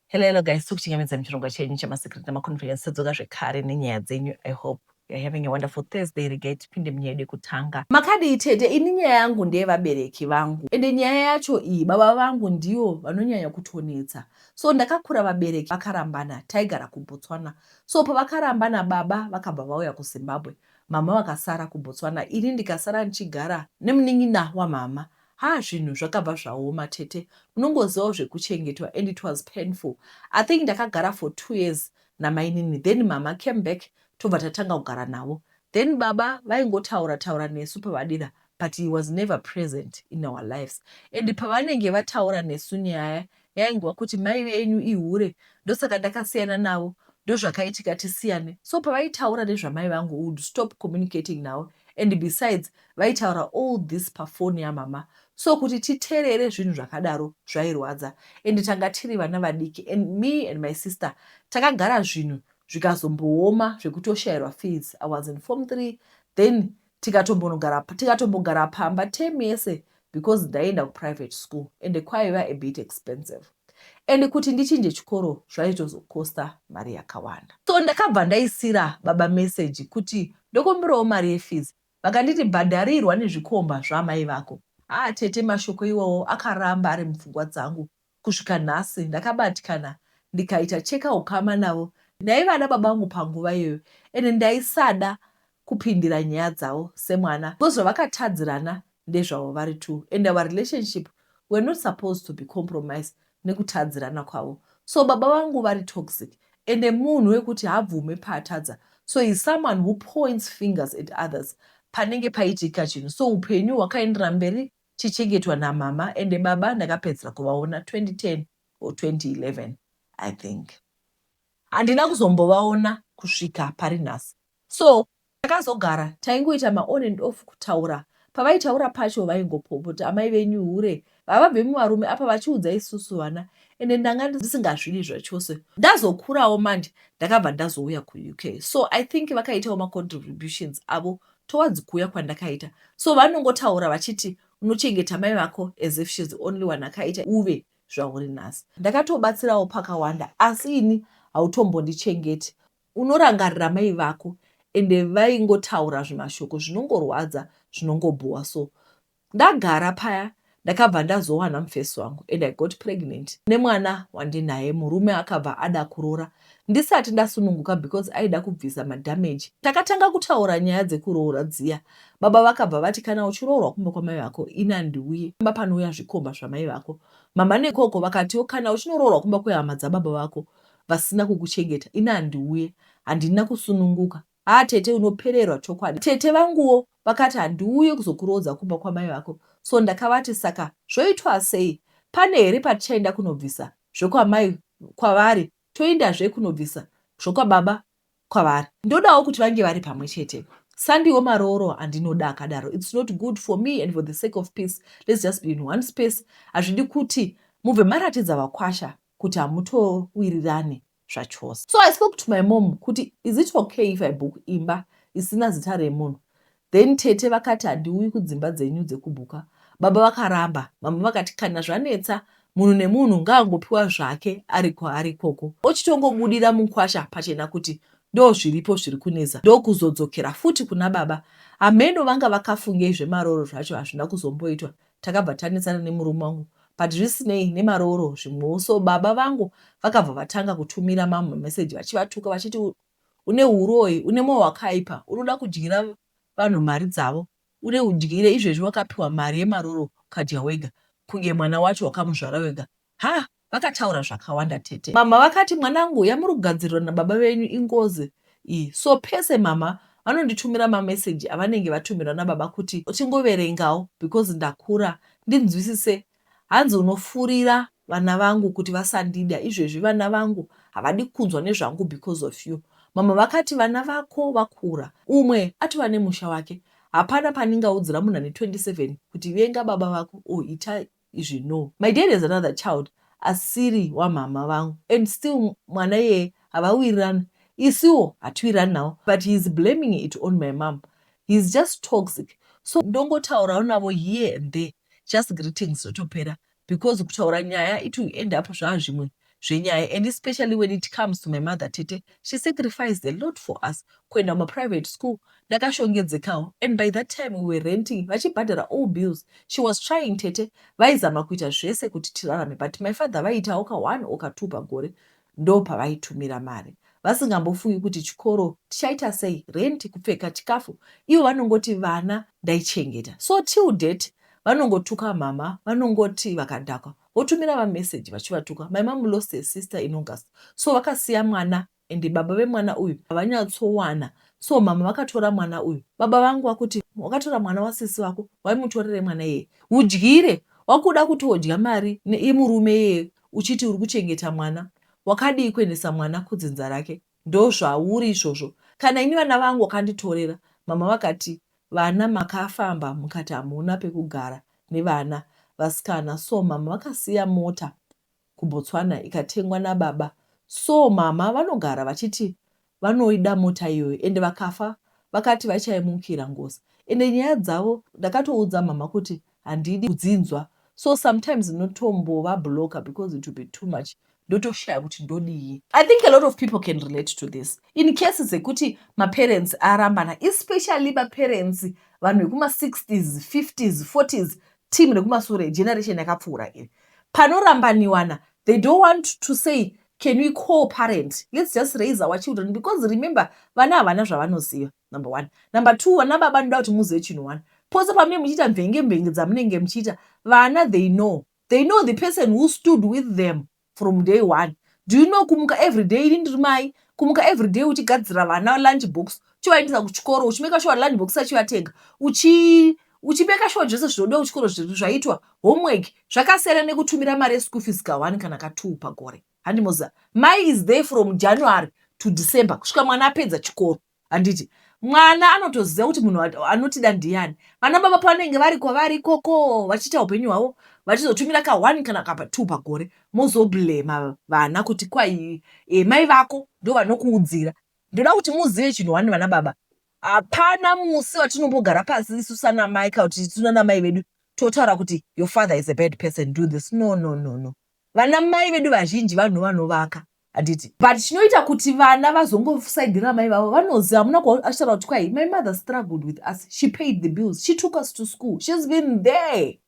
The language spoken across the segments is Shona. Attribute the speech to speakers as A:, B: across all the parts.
A: Hello, hello guys, tiri kuchingamidza muchirongwa chenyu chemasekret nemaconference tadzoka zvekare nenyaya dzenyu. I hope you're having a wonderful Thursday. Regai tipinde munyaya yedu yekutanga. Makadii tete? Ini nyaya yangu ndeyevabereki vangu, ende nyaya yacho iyi baba vangu ndivo vanonyanya kutonetsa. So ndakakura vabereki vakarambana, taigara kuBotswana. So pavakarambana baba vakabva vauya kuZimbabwe, mama vakasara kuBotswana, ini ndikasara ndichigara nemunin'ina wamama. Haa zvinhu zvakabva zvaoma tete unongozivawo zvekuchengetwa and it was painful I think ndakagara for two years namainini then mama came back tobva tatanga kugara navo then baba vaingotaura taura nesu pavadira but he was never present in our lives and pavanenge vataura nesu nyaya yaingova kuti mai venyu ihure ndosaka ndakasiyana navo ndozvakaitika tisiyane so pavaitaura nezvamai vangu would stop communicating navo and besides vaitaura all this pafoni yamama so kuti titerere zvinhu zvakadaro zvairwadza and tanga tiri vana vadiki and me and my sister takagara zvinhu zvikazombooma zvekutoshayirwa fees i was in form three then Tikatombogara pamba term yese because ndaienda kuprivate school ende kwaiva a bit expensive ende kuti ndichinje chikoro zvaitozocoster mari yakawanda. So ndakabva ndaisira baba message kuti ndokumbirawo mari yefees vakanditi bhadharirwa nezvikomba zvaamai vako. Haa tete mashoko iwawo akaramba ari mupfungwa dzangu Kusvika nhasi ndakabatikana ndikaita cheka hukama navo ndaiva ana babangu panguva iyoyo ende ndaisada kupindira nyaya dzavo semwana because zvavakatadzirana ndezvavo vari two and our relationship were not supposed to be compromised nekutadzirana kwavo so baba vangu vari toxic ende munhu wekuti haabvume paatadza so he's someone who points fingers at others panenge paitika chinhu so upenyu hwakaenderera mberi chichengetwa namama ende baba ndakapedzisira kuvaona 2010 or 2011 I think. Handina kuzombovaona kusvika pari nhasi. So takazogara taingoita ma on and off kutaura. Pavaitaura pacho vaingopopota amai venyu hure havabve muvarume apa vachiudza isusu vana ende ndanga ndisingazvidi zvachose. Ndazokurawo manje ndakabva ndazouya kuUK so I think vakaitawo ma contributions avo towards kuuya kwandakaita so vanongotaura vachiti unochengeta mai vako as if shes the only one akaita uve zvauri nhasi ndakatobatsirawo pakawanda asi ini hautombondichengeti unorangarira mai vako ende vaingotaura zvimashoko zvinongorwadza zvinongobhowa so Ndagara paya ndakabva ndazowana mfesi wangu and I got pregnant nemwana wandinaye murume akabva ada kurora ndisati ndasununguka because aida kubvisa madamage. Takatanga kutaura nyaya dzekuroora dziya baba vakabva vati kana uchiroorwa kumba kwamai vako ini handiuye kumba panouya zvikomba zvamai vako. Mama nekoko vakatiwo kana uchinoroorwa kumba kwehama dzababa vako vasina kukuchengeta ini handiuye. Handina kusununguka. Haa tete unopererwa chokwadi. Tete vanguwo vakati handiuye kuzokuroodza kumba kwamai vako so ndakavati saka zvoitwa sei pane here patichaenda kunobvisa zvekwamai kwavari toindazve kunobvisa zvokwababa kwavari ndodawo kuti vange vari pamwe chete sandiwo marooro andinoda akadaro its not good for me and for the sake of peace let's just be in one space hazvidi kuti mubve maratidza vakwasha kuti hamutowirirane zvachose so i spoke to my mom kuti is it okay if i book imba isina zita remunhu then tete vakati handiuyi kudzimba dzenyu dzekubhuka baba vakaramba mama vakati kana zvanetsa munhu nemunhu ngaangopiwa zvake ari kwaari ikoko ochitongobudira mukwasha pachena kuti ndo zviripo zviri kunetsa ndokuzodzokera futi kuna baba hameno vanga vakafungei zvemaroro zvacho hazvina kuzomboitwa takabva tanetsana nemurume wangu but zvisinei nemarooro zvimwewo so baba vangu vakabva vatanga kutumira mamu mameseji vachivatuka vachiti une uroyi une moyo wakaipa unoda kudyira vanhu mari dzavo uri udyire izvezvi wakapiwa mari yemaroro ukadya wega kunge mwana wacho wakamuzvara wega Haa vakataura zvakawanda tete. Mama vakati mwanangu yamuri kugadzirirwa nababa venyu ingozi iyi so pese mama vanonditumira mameseji avanenge vatumirwa nababa kuti chingoverengawo because ndakura ndinzwisise hanzi unofurira vana vangu kuti vasandida izvezvi vana vangu havadi kunzwa nezvangu because of you mama vakati vana vako vakura umwe atova nemusha wake hapana pandingaudzira munhu ane 27 kuti venga baba vako or ita izvi no. My dad has another child asiri wamhamha vangu and still mwana iyeye havawirirane isiwo hatiwirirane nawo but he is blaming it on my mom he is just toxic so ndongotaurawo navo here and there just greetings zvotopera because kutaura nyaya it will end up zvaa zvimwe. zvenyaya and especially when it comes to my mother tete she sacrificed a lot for us kuenda mumaprivate school ndakashongedzekawo and by that time we were renting vachibhadhara all bills she was trying tete vaizama kuita zvese kuti tirarame but my father vaiitawo ka one or ka two pagore ndo pavaitumira mari vasingambofungi kuti chikoro tichaita sei renti kupfeka chikafu ivo vanongoti vana ndaichengeta so till date vanongotuka mama vanongoti vakadhakwa votumira vamessage vachivatuka my mom lost her sister in august so vakasiya mwana and baba vemwana uyu havanyatsowana so mama vakatora mwana uyu baba vangu vakuti wakatora mwana wasisi vako waimutorere mwana iyeye udyire wakuda kuti wodya mari neimurume iyeye uchiti uri kuchengeta mwana wakadii kuendesa mwana kudzinza rake Ndozvauri izvozvo kana ini vana vangu wakanditorera mama vakati vana makafamba mukati hamuna pekugara nevana vasikana so mama vakasiya mota kuBotswana ikatengwa nababa so mama vanogara vachiti vanoida mota iyoyo ende vakafa vakati vachaimukira ngozi ende nyaya dzavo ndakatoudza mama kuti handidi kudzinzwa so sometimes ndinotombova blocker because it will be too much ndotoshaya kuti ndodii. I think a lot of people can relate to this in case dzekuti maparents arambana especially maparents vanhu vekuma 60s 50s 40s team rekumasure generation yakapfuura iri panorambaniwana they don't want to say can we co-parent let's just raise our children because remember vana havana zvavanoziva Number one. Number two, vana baba ndoda kuti muzive chinhu one. Pose pamunenge muchiita mvenge mvenge dzamunenge muchiita, vana they know. They know the person who stood with them from day one. Do you know kumuka every day ini ndiri mai, kumuka every day uchigadzira vana lunch box, uchivaendesa kuchikoro, uchimeka sure lunch box achivatenga, uchi uchimeka sure zvese zvinodiwa kuchikoro zvaitwa, homework, zvakasiyana nekutumira mari yeschool fees ka one kana ka two pagore. Handimoziva. Mai is there from January to December kusvika mwana apedza chikoro. handiti mwana anotoziva kuti munhu anotida ndiyani vana baba pavanenge vari kwavari ikoko vachiita upenyu hwavo vachizotumira ka one kana kapa two pagore mozoblema vana kuti kwai e, mai vako ndo vanokuudzira ndoda kuti muzive chinhu wani vana baba hapana musi vatinombogara pasi isu sanamai kana kuti sunanamai vedu totaura kuti your father is a bad person do this no no no no Vana mai vedu vazhinji vanhu vanovaka handiti but chinoita kuti vana vazongosaidhira mai vavo vanozi hamuna kuachitaura kuti kwai my mother struggled with us she paid the bills she took us to school she's been there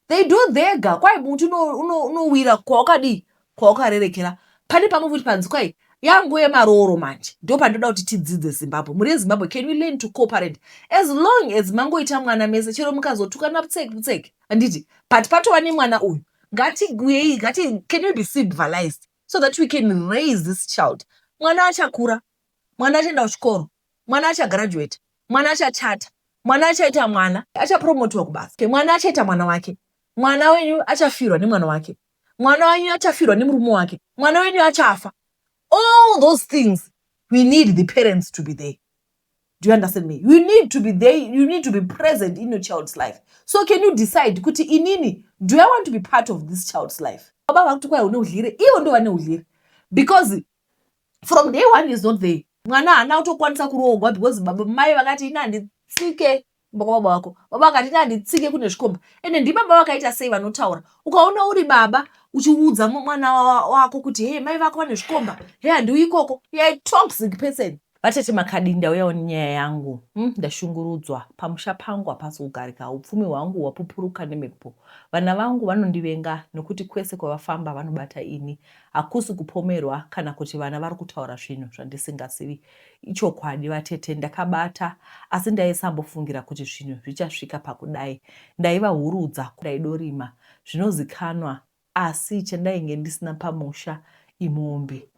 A: they do thega kwai muti unowira kwawakadii kwawakarerekera pane pamwe kuti panzi kwai yangu yemarooro manje ndo pandoda kuti tidzidze zimbabwe muri yezimbabwe can you learn to cooperate as long as mangoita mwana mese chero mukazotukana putseki putseki handiti but patova nemwana uyu ngatiuyei ngati can we be civilized so that we can raise this child mwana achakura mwana achaenda kuchikoro mwana achagraduate mwana achachata mwana achaita mwana achapromotiwa kubasa okay, mwana achaita mwana wake mwana wenyu achafirwa nemwana wake mwana wenyu achafirwa nemurume wake mwana wenyu achafa all those things we need the parents to be there do you understand me you need to be there you need to be present in your child's life so can you decide kuti inini do i want to be part of this child's life baba vakuti kwai une udlire ivo ndo vane udlire because from day one is not there mwana haana kutokwanisa kuroogwa because baba mai vakati ini handitsike kumba kwababa wako baba vakati ine handitsike kune zvikomba ende ndibaba vakaita sei vanotaura ukaona uri baba uchiudza mwana wako kuti hee mai vako vane zvikomba he handiuyi ikoko yai toxic person vatete makadii ndauyawo nenyaya yangu hmm, ndashungurudzwa pamusha pangu hapasi kugarika upfumi hwangu hwapupuruka nemhepo vana vangu vanondivenga nokuti kwese kwavafamba vanobata ini hakusi kupomerwa kana kuti vana vari kutaura zvinhu zvandisingazivi Ichokwadi vatete ndakabata asi ndaisambofungira kuti zvinhu zvichasvika pakudai. Ndaivahurudza ndaidorima zvinozikanwa asi chandainge ndisina pamusha imombe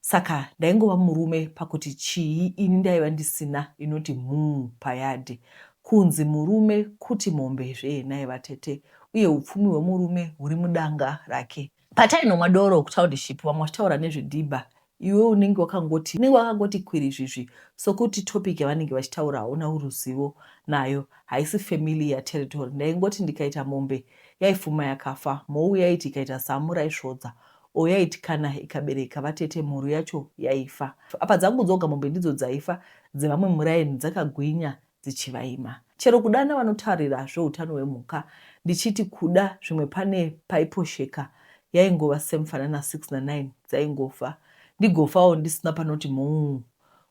A: saka ndaingova murume pakuti chii ini ndaiva ndisina inoti mhuu payadhi. Kunzi murume kuti mombe zvee nhai vatete uye upfumi hwemurume huri mudanga rake. Patainomwa doro kutownship vamwe vachitaura nezvedhibha iwe unenge wakangoti unenge wakangoti kwirizvizvi sokuti topic yavanenge vachitaura hauna ruzivo nayo haisi familiar territory ndaingoti ndikaita mombe yaifuma yakafa mhou yaiti ikaita zamu raisvodza or yaiti kana ikabereka vatete mhuru yacho yaifa apa dzangu dzoga mombe ndidzo dzaifa dzevamwe muraini dzakagwinya dzichivaima. Chero kudana vanotarira zveutano hwemhuka ndichiti kuda zvimwe pane paiposheka yaingova semufanana 6 na 9 dzaingofa ndigofawo ndisina panoti mhuu.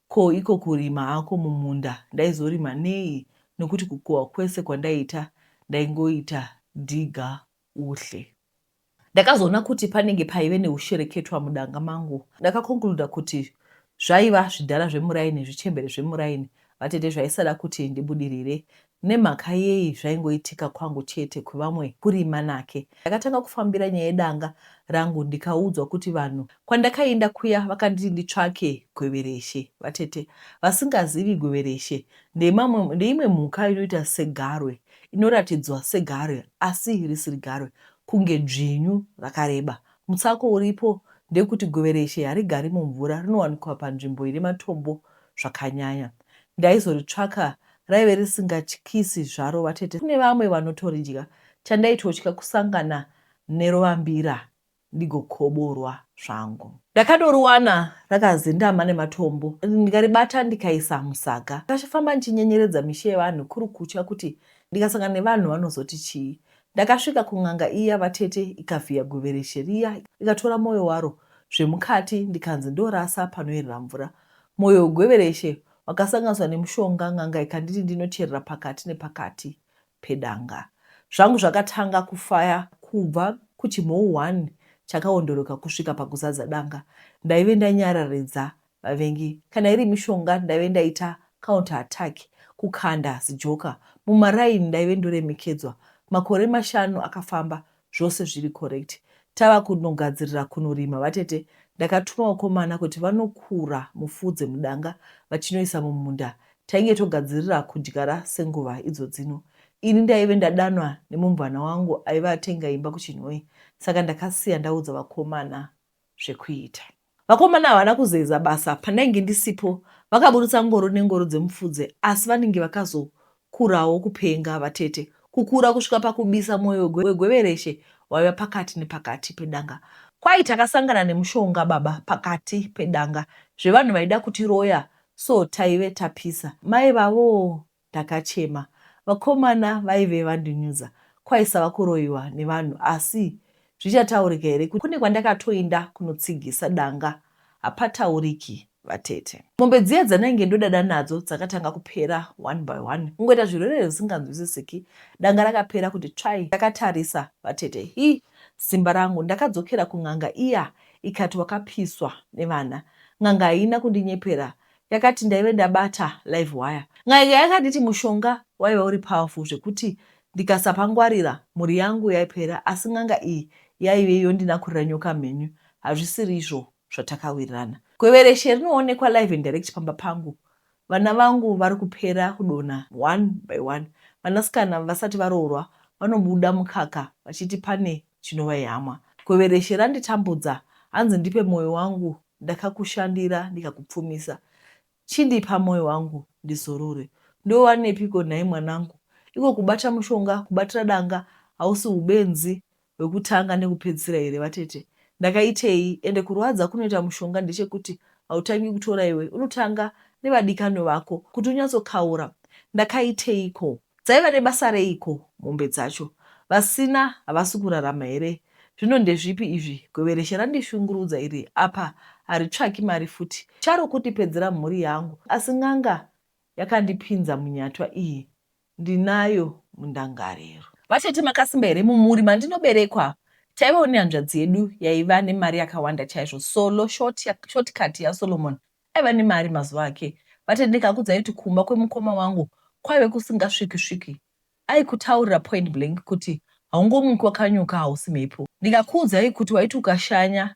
A: Ko iko kurima hako mumunda ndaizorima nei nokuti kukohwa kwese kwandaiita ndaingoita digger uhle. Ndakazoona kuti panenge paive neushereketwa mudanga mangu. Ndakakonkluda kuti zvaiva zvidhara zvemuraini, zvichembere zvemuraini, vatete zvaisada kuti ndibudirire. Nemhaka yei zvaingoitika kwangu chete kwevamwe kuri manake? Ndakatanga kufambira nyaya yedanga rangu ndikaudzwa kuti vanhu kwandakainda kuya vakanditi nditsvake gwevereshe. Vatete vasingazivi gwevereshe ndeimwe mhuka inoita segarwe. inoratidzwa segarwe asi risiri garwe kunge dzvinyu rakareba. Mutsako uripo ndewekuti govereshe harigari mumvura rinowanikwa panzvimbo ine matombo zvakanyanya. Ndaizoritsvaka raive risingatyisi zvaro vatete. Kune vamwe vanotoridya. Chandaitotya kusangana nerovambira ndigokoborwa zvangu. Ndakadoriwana rakazendama nematombo ndikaribata ndikaisa musaga. Ndakafamba ndichinyenyeredza misha yevanhu kuri kutya kuti ndikasangana nevanhu vanozoti chii. Ndakasvika kun'anga iya vatete ikavhiya guvereshe riya ikatora moyo waro zvemukati ndikanzi ndorasa panoyerera mvura. Moyo wegwevereshe wakasanganiswa nemushonga n'anga ikanditi ndinocherera pakati nepakati pedanga. Zvangu zvakatanga kufaya kubva kuchimhou one chakaondoroka kusvika pakuzadza danga. Ndaive ndanyararidza vavengi. Kana iri mishonga ndaive ndaita counter attack, kukanda zijoka mumaraini ndaive ndoremekedzwa. Makore mashanu akafamba zvose zviri correct tava kunogadzirira kunorima vatete ndakatuma vakomana kuti vanokura mufudze mudanga vachinoisa mumunda tainge togadzirira kudyara senguva idzo dzino ini ndaive ndadanwa nemumvana wangu aive atenga imba kuchinhoyi saka ndakasiya ndaudza vakomana zvekuita. Vakomana havana kuzeza basa pandainge ndisipo vakaburitsa ngoro nengoro dzemufudze asi vanenge vakazokurawo kupenga vatete kukura kusvika pakubisa mwoyo wegwevereshe waiva pakati nepakati pedanga kwai takasangana nemushonga baba pakati pedanga zvevanhu vaida kutiroya so taive tapisa mai vavo Ndakachema. Vakomana vaive vandinyudza kwaisava kuroiwa nevanhu asi zvichataurika here kuti kune kwandakatoinda kunotsigisa danga hapatauriki vatete. Mombe dziya dzandainge ndodada nadzo dzakatanga kupera one by one kungoita zvirwerere zvisinganzwisisiki. Danga rakapera kuti tsvai ndakatarisa vatete hi simba rangu. Ndakadzokera kun'anga iya ikati wakapiswa nevana. N'anga haina kundinyepera Yakati ndaive ndabata live wire. N'anga yakanditi mushonga waiva uri powerful zvekuti ndikasapangwarira mhuri yangu yaipera asi n'anga iyi yaive yondinakurira nyoka mhenyu hazvisiri izvo zvatakawirirana. Gwevereshe rinoonekwa live and direct pamba pangu. Vana vangu vari kupera kudonha one by one. Vanasikana vasati varoorwa vanobuda mukaka vachiti pane. chinova ihama. Kwevereshe randitambudza hanzi ndipe moyo wangu ndakakushandira ndikakupfumisa chindipa moyo wangu ndizorore ndowanepiko nhai mwanangu iko kubata mushonga kubatira danga hausi ubenzi hwekutanga nekupedzisira here vatete ndakaitei ende kurwadza kunoita mushonga ndechekuti hautangi kutora iwe unotanga nevadikanwe vako kuti unyatsokaura ndakaiteiko Dzaiva nebasa reiko mombe dzacho? Vasina havasi kurarama here? Zvino ndezvipi izvi? Gwevereshe randishungurudza iri apa haritsvaki mari futi. Charo kutipedzera mhuri yangu asi n'anga yakandipinza munyatwa iyi ndinayo mundangariro. Vatete makasimba here mumhuri mandinoberekwa? Taivawo nehanzvadzi yedu yaiva nemari yakawanda chaizvo. Solo, short, shortcut yaSolomon aiva nemari mazuva ake but ndikakudzai kuti kumba kwemukoma wangu kwaive kusingasviki sviki aikutaurira point blank kuti haungomuki wakanyuka hausi mhepo ndikakuudzai kuti waiti ukashanya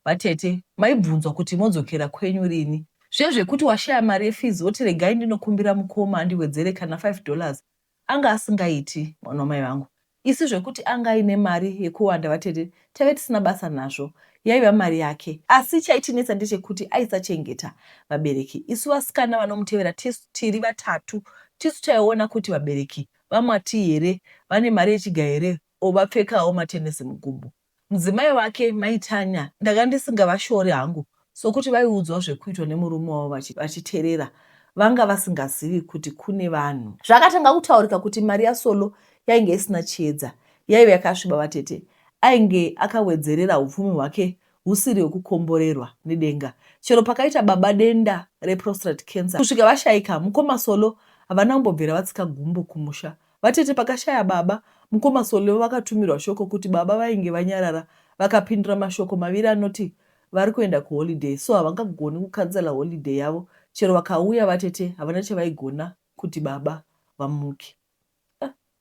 A: vatete maibvunzwa kuti modzokera kwenyu rini zviye zvekuti washaya mari yefees woti regai ndinokumbira mukoma andiwedzere kana 5 dollars Anga asingaiti mwana wamai vangu. Isu zvekuti anga aine mari yekuwanda vatete taive tisina basa nazvo. Yaiva mari yake. Asi chaitinetsa ndechekuti aisachengeta vabereki. Isu vasikana vanomutevera tisu tiri vatatu tisu taiona kuti vabereki vaMwati here vane mari yechigaya here or vapfekawo matenesi mugumbo. Mudzimai wake, Mai Tanya, ndanga ndisingavashori hangu sokuti vaiudzwa zvekuitwa nemurume wavo vachiterera vanga vasingazivi kuti kune vanhu. Zvakatanga kutaurika kuti mari yaSolo yainge isina chiedza, yaive yakasviba vatete. Ainge akawedzerera upfumi hwake husiri hwekukomborerwa nedenga. Chero pakaita baba denda reprostate cancer kusvika vashaika, mukoma Solo havana kumbobvira vatsika gumbo kumusha Vatete pakashaya baba, mukoma Solewo vakatumirwa shoko kuti baba vainge vanyarara vakapindura mashoko maviri anoti vari kuenda kuholiday so havangagoni kucancela holiday yavo chero vakauya vatete havana chavaigona kuti baba vamuke.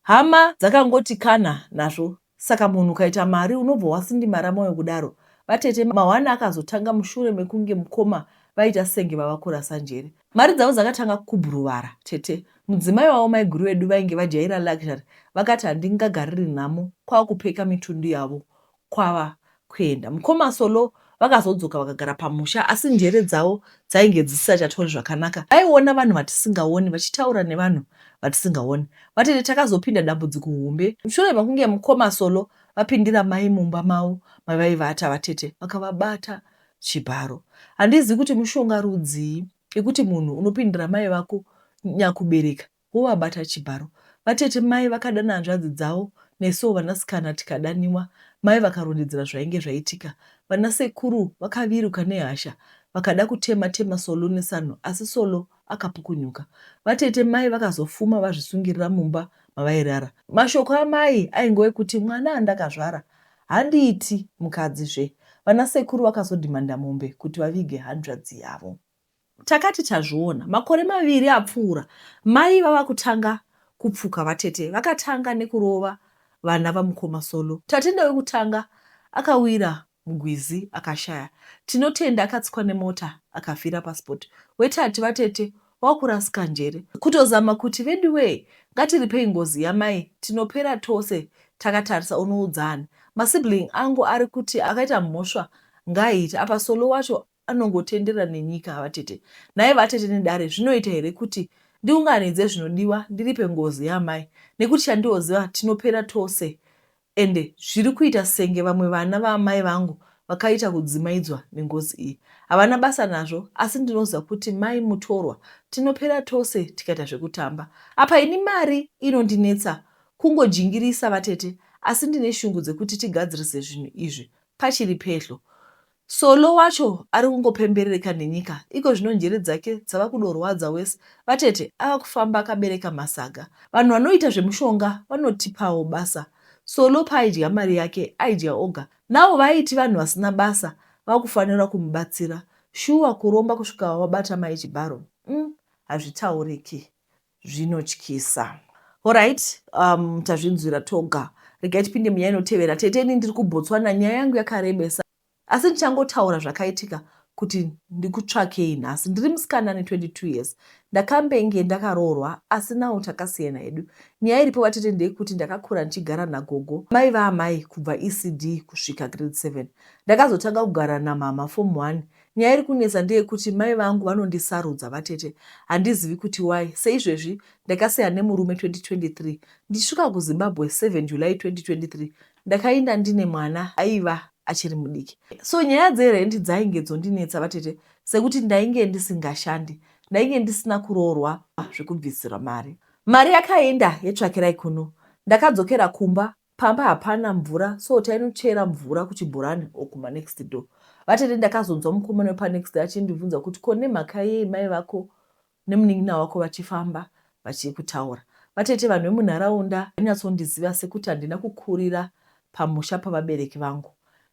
A: Hama dzakangoti kana nazvo Saka munhu ukaita mari unobva wasindimara moyo kudaro vatete mahwani akazotanga mushure mekunge mukoma vaita senge vava kurasa njere. Mari dzavo dzakatanga kubhuruvara tete. Mudzimai wavo maiguru vedu vainge vajaira luxury vakati handingagariri nhamo kwava kupeka mitundu yavo kwava kuenda. Mukoma Solo vakazodzoka vakagara pamusha asi njere dzavo dzainge dzisisachatori zvakanaka. Vaiona vanhu vatisingaoni vachitaura nevanhu vatisingaoni. Vatete takazopinda dambudziko hombe mushure mekunge mukoma Solo vapindira mai mumba mavo mavaivata. Vatete vakavabata chibharo. Handizivi kuti mushonga rudzii ikuti munhu unopindira mai vako nyakubereka. wovabata chibharo. Vatete mai vakadana hanzvadzi dzavo nesuwo vanasikana tikadaniwa. Mai vakarondedzera zvainge zvaitika. Vanasekuru vakaviruka nehasha vakada kutema tema Solo nesanhu asi Solo akapukunyuka. Vatete mai vakazofuma vazvisungirira mumba mavairara. Mashoko amai aingove kuti mwana andakazvara handiiti mukadzi zve. Vanasekuru vakazodhimanda mombe kuti vavige hanzvadzi yavo. Takati tazviona makore maviri apfuura mai vava kutanga kupfuka vatete vakatanga nekurova vana vamukoma Solo. Tatenda wekutanga akawira mugwizi akashaya, Tinotenda akatsikwa nemota akafira paspot, wetatu vatete wakurasika njere kutozama kuti veduwee ngatiripei ngozi yamai tinopera tose takatarisa unoudza ani? Masibling angu ari kuti akaita mhosva ngaaiite apa Solo wacho anongotenderera nenyika avatete nhai vatete nedare zvinoita here kuti ndiunganidze zvinodiwa ndiripe ngozi yaamai nekuti chandioziva tinopera tose ende zviri kuita senge vamwe vana vaamai vangu vakaita kudzimaidzwa nengozi iyi havana basa nazvo asi ndinoziva kuti mai mutorwa tinopera tose tikaita zvekutamba apa ini mari inondinetsa kungojingirisa vatete asi ndine shungu dzekuti tigadzirise zvinhu izvi pachiri pedhlo Solo wacho ari kungopemberereka nenyika iko zvino njere dzake dzava kudorwadza worse vatete ava kufamba akabereka masaga. Vanhu vanoita zvemushonga vanotipawo basa. Solo paaidya mari yake aidya oga now vaiti vanhu vasina basa vakufanira kumubatsira. Shuwa kuromba kusvika wabata mai Chibharo umm hazvitauriki. zvinotyisa. Horait um, tazvinzwira toga regai tipinde munyaya inotevera tete ini ndiri kubotswana nyaya yangu yakarebesa asi ndichangotaura zvakaitika kuti ndikutsvakei nhasi ndiri musikana ane 22 years ndakambenge ndakaroorwa asi nawo takasiyana hedu nyaya iripo vatete ndeyekuti ndakakura ndichigara nagogo mai vaamai kubva ecd kusvika grade 7 ndakazotanga kugara namama form 1 Nyaya iri kunetsa ndeyekuti mai vangu vanondisarudza vatete handizivi kuti why. Seizvezvi ndakasiyana nemurume 2023 ndichisvika kuZimbabwe 7 July 2023 ndakainda ndine mwana aiva achiri mudiki. So nyaya dzerendi dzainge dzondinetsa vatete sekuti ndainge ndisingashandi ndainge ndisina kuroorwa zvekubvisirwa mari. Mari yakainda yetsvakirai kuno ndakadzokera kumba Pamba hapana mvura so tainochera mvura kuchibhorani or kuma next door. Vatete ndakazonzwa mukomana wepa next door achindibvunza kuti ko nemhaka yei mai vako nemunin'ina wako vachifamba vachikutaura. Vatete vanhu vemunharaunda vainyatsondiziva sekuti handina kukurira pamusha pavabereki vangu.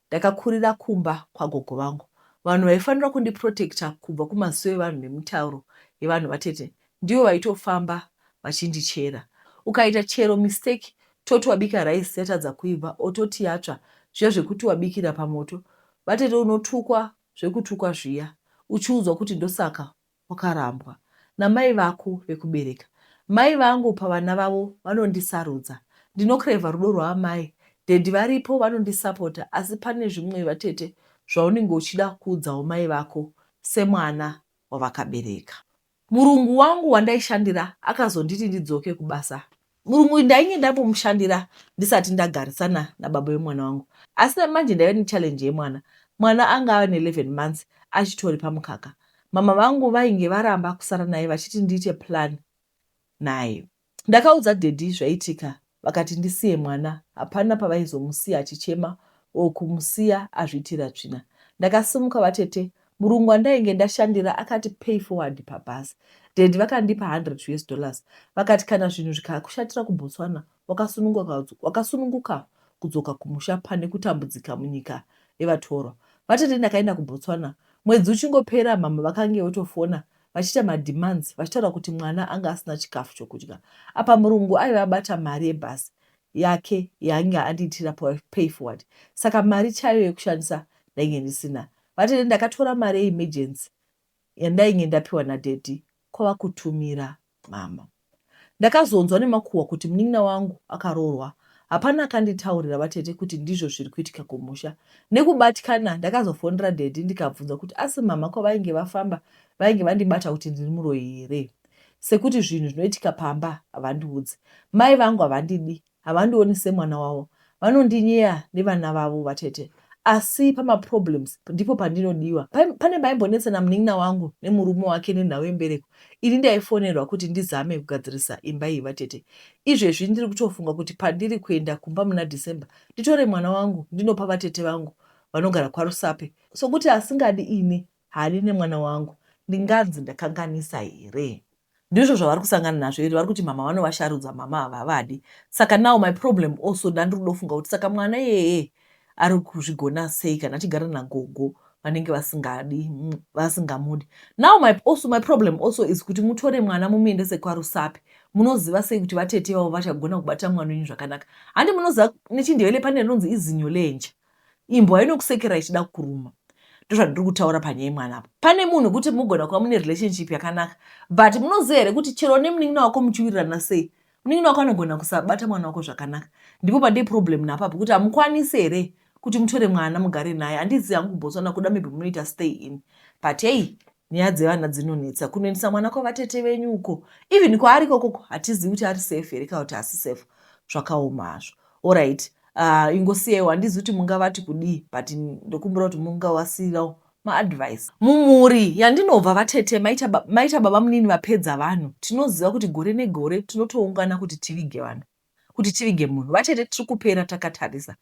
A: Ndakakurira kumba kwagogo vangu. Vanhu vaifanira kundi protector kubva kumasuwo evanhu nemitauro yevanhu vatete ndivo vaitofamba vachindichera. Ukaita chero mistake toti wabika rice yatadza kuibva or toti yatsva zviya zvekuti wabikira pamoto vatete unotukwa zvekutukwa zviya uchiudzwa kuti ndosaka wakarambwa namai vako vekubereka. Mai vangu pavana vavo vanondisarudza. Ndinocraver rudo rwaamai. Daddy varipo vanondisapota asi pane zvimwe vatete zvaunenge uchida kuudzawo mai vako semwana wavakabereka. Murungu wangu wandaishandira akazonditi ndidzoke kubasa. Murungu uyu ndainge ndambomushandira ndisati ndagarisana nababa vemwana wangu asi namanje ndaive nechallenge yemwana. Mwana anga ave ne11 months achitori pamukaka. Mama vangu vainge varamba kusara naye vachiti ndiite plan naye. Ndakaudza daddy zvaitika vakati ndisiye mwana hapana pavaizomusiya achichema or kumusiya azviitira tsvina. Ndakasimuka vatete murungu wandainge ndashandira akati pay forward pabhazi. Daddy vakandipa 100 us dollars vakati kana zvinhu zvikakushatira kuBotswana wakasununguka kudzoka kumusha pane kutambudzika munyika yevatorwa. Vatete ndakaenda kuBotswana mwedzi uchingopera mhamha vakange votofona vachiita mademands vachitaura kuti mwana anga asina chikafu chokudya. Apa murungu aive abata mari yebus yake yaange andiitira pay forward saka mari chaiyo yekushandisa ndainge ndisina. Vatete ndakatora mari yeemergency yandainge ndapiwa nadaddy kwava kutumira mama. Ndakazonzwa nemakuhwa kuti munin'ina wangu akaroorwa. Hapana akanditaurira vatete kuti ndizvo zviri kuitika kumusha. Nekubatikana ndakazofonera daddy ndikabvunza kuti asi mhamha kwavainge vafamba vainge vandibata kuti ndiri muroyi here sekuti zvinhu zvinoitika pamba havandiudze. Mai vangu havandidi Havandioni semwana wavo, vanondinyeya nevana vavo vatete asi pamaproblems ndipo pandinodiwa. Pane paimbonetsa namunin'ina wangu nemurume wake nenhau yembereko, ini ndaifonerwa kuti ndizame kugadzirisa imba iyi vatete. Izvezvi ndiri kutofunga kuti pandiri kuenda kumba muna December nditore mwana wangu ndinopa vatete vangu vanogara kwaRusape sokuti asingadi ini haadi nemwana wangu. Ndinganzi ndakanganisa here? Ndizvo zvavari kusangana nazvo here vari kuti mhamha vanovasharudza mhamha havavadi saka now my problem also ndandiri kudofunga kuti saka mwana iyeye ari kuzvigona sei kana achigara nagogo vanenge vasingadi vasingamudi now my, also, my problem also is kuti mutore mwana mumuendese kwarusapi munoziva sei kuti vatete vavo vachagona kubata mwana wenyu zvakanaka handi munoziva nechindevele pane rinonzi izinyo lenje Imbwa inokusekera ichida kukuruma. Ndozvandiri kutaura panyaya yemwana apo. Pane munhu kuti mugona kuva mune relationship yakanaka but munoziva here kuti chero nemunin'ina wako muchiwirirana sei munin'ina wako anogona kusabata mwana wako zvakanaka. Ndipo pandee problem napapo kuti hamukwanisi here kuti mutore mwana mugare naye. Handizivi hangu kuBotswana kuda maybe munoita stay in but hey Nyaya dzevana dzinonetsa kunoendesa mwana kwavatete venyu uko even kwaari kokoko hatizivi kuti ari safe here kana kuti hasi safe zvakaoma hazvo orit uh, ah, ingosiyaiwo handizi kuti mungavati kudii but ndokumbira kuti mungawasirawo maadvice mumhuri yandinobva vatete maita, ba, maita baba munini vapedza vanhu tinoziva kuti gore negore tinotoungana kuti tivige vanhu kuti tivige munhu. Vatete tiri kupera takatarisa.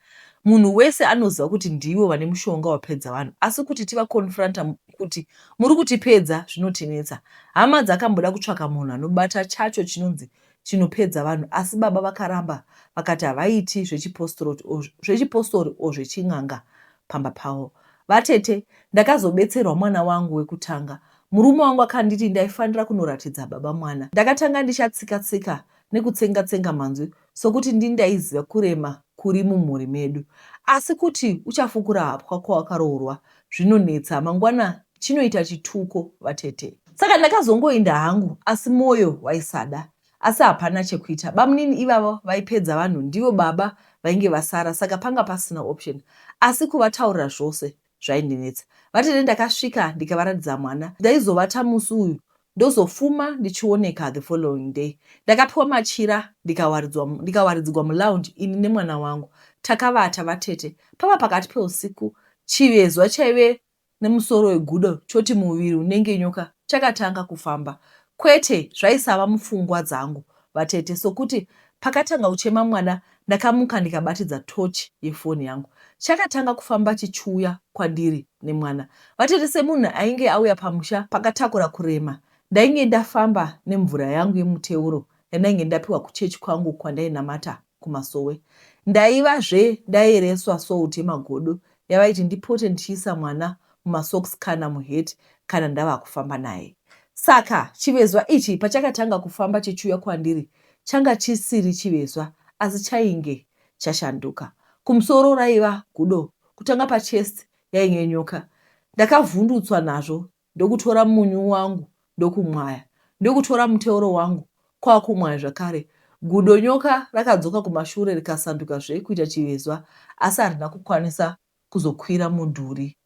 A: Munhu wese anoziva kuti ndivo vane mushonga wapedza vanhu asi kuti tivaconfronta kuti muri kutipedza zvinotinetsa. Hama dzakamboda kutsvaka munhu anobata chacho chinonzi chinopedza vanhu asi baba vakaramba vakati havaiti zvechipostori o zvechin'anga pamba pavo. Vatete, ndakazobetserwa mwana wangu wekutanga. Murume wangu akanditi ndaifanira kunoratidza baba mwana. Ndakatanga ndichatsika-tsika nekutsenga tsenga manzwi sokuti ndini ndaiziva kurema kuri mumhuri medu asi kuti uchafukura hapwa kwawakaroorwa zvinonetsa mangwana chinoita chituko vatete saka ndakazongoinda hangu asi moyo waisada asi hapana chekuita bamunini ivavo vaipedza vanhu ndivo baba vainge vasara saka panga pasina option asi kuvataurira zvose zvaindinetsa vatete ndakasvika ndikavaratidza mwana ndaizovata musi uyu ndozofuma ndichioneka the following day ndakapiwa machira ndikawaridzwa ndikawaridzigwa mulounge ini nemwana wangu takavata vatete pava pakati peusiku chivezwa chaive nemusoro wegudo choti muviri unenge nyoka chakatanga kufamba kwete zvaisava mupfungwa dzangu Vatete, sokuti pakatanga kuchema mwana ndakamuka ndikabatidza torch yefoni yangu. Chakatanga kufamba chichiuya kwandiri nemwana. Vatete, semunhu ainge auya pamusha pakatakura kurema ndainge ndafamba nemvura yangu yemuteuro yandainge ndapiwa kuchurch kwangu kwandainamata. kumasowe ndaiva zve ndayereswa salt yemagodo yavaiti ndipote ndichiisa mwana mumasocks kana muhat kana ndavakufamba naye saka chivezwa ichi pachakatanga kufamba chichiuya kwandiri changa chisiri chivezwa asi chainge chashanduka kumusoro raiva gudo kutanga pachest yainge nyoka ndakavhundutswa nazvo ndokutora munyu wangu ndokumwaya, ndokutora muteuro wangu kwakumwaya zvakare. Gudo nyoka rakadzoka kumashure rikasanduka zve kuita chivezwa asi harina kukwanisa kuzokwira mudhuri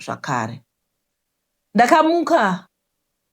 A: zvakare. Ndakamuka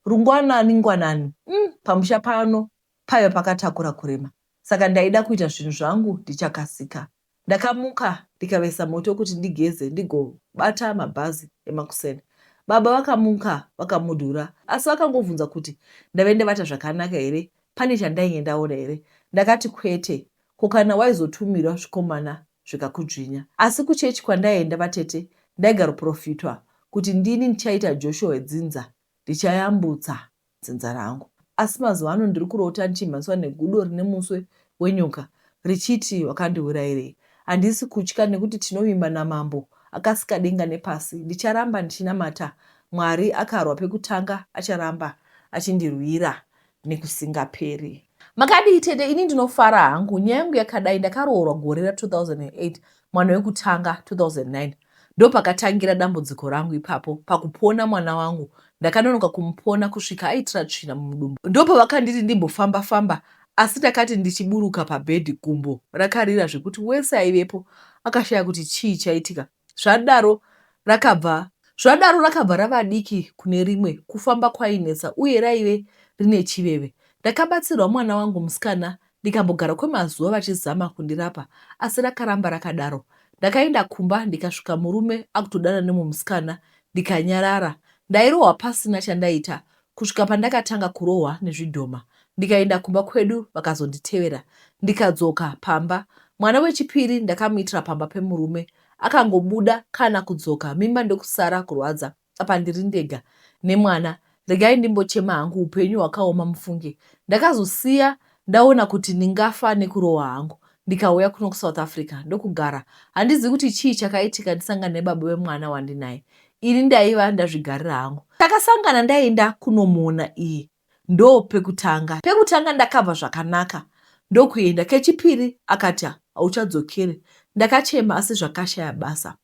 A: rungwanani ngwanani umm pamusha pano paiva pakatakura kurema saka ndaida kuita zvinhu zvangu ndichakasika. Ndakamuka ndikavesa moto kuti ndigeze ndigobata mabhazi emakuseni. Baba vakamuka vakamudura asi vakangobvunza kuti ndave ndavata zvakanaka here pane chandainge ndaona here. Ndakati kwete ko kana waizotumirwa zvikomana zvikakudzvinya. Asi kuchechi kwandaienda vatete ndaigaroporofitwa kuti ndini ndichaita Joshua wedzinza ndichayambutsa dzinza rangu. Asi mazuva ano ndiri kurota ndichimhanyiswa negudo rine muswe wenyoka richiti wakandiurairei. Handisi kutya nekuti tinovimba naMambo akasika denga nepasi. Ndicharamba ndichinamata Mwari akarwa pekutanga acharamba achindirwira nekusingaperi. Makadii tete ini ndinofara hangu nyaya yangu yakadai ndakaroorwa gore ra 2008 mwana wekutanga 2009 Ndopakatangira dambudziko rangu ipapo pakupona mwana wangu ndakanonoka kumupona kusvika aitira tsvina mumudumbu ndopavakanditi ndimbofamba famba asi ndakati ndichiburuka pabed gumbo rakarira zvekuti wese aivepo akashaya kuti chii chaitika zvadaro rakabva Zvadaro rakabva rava diki kune rimwe kufamba kwainetsa uye raive rine chiveve. Ndakabatsirwa mwana wangu musikana Ndikambogara kwemazuva vachizama kundirapa asi rakaramba rakadaro. Ndakaenda kumba ndikasvika murume akutodana nemumwe musikana ndikanyarara. Ndairohwa pasina chandaita kusvika pandakatanga kurohwa nezvidhoma ndikaenda kumba kwedu vakazonditevera ndikadzoka pamba. Mwana wechipiri ndakamuitira pamba pemurume akangobuda kana kudzoka mimba ndokusara kurwadza. apa ndiri ndega nemwana regai ndimbochema hangu upenyu hwakaoma mufunge ndakazosiya ndaona kuti ndingafa nekurohwa hangu ndikauya kuno kusouth africa ndokugara handizivi kuti chii chakaitika ndisangana nebaba vemwana wandinaye ini ndaiva ndazvigarira hangu takasangana ndaenda kunomuona iyi ndo pekutanga pekutanga ndakabva zvakanaka ndokuenda kechipiri akati hauchadzokere ndakachema asi zvakashaya basa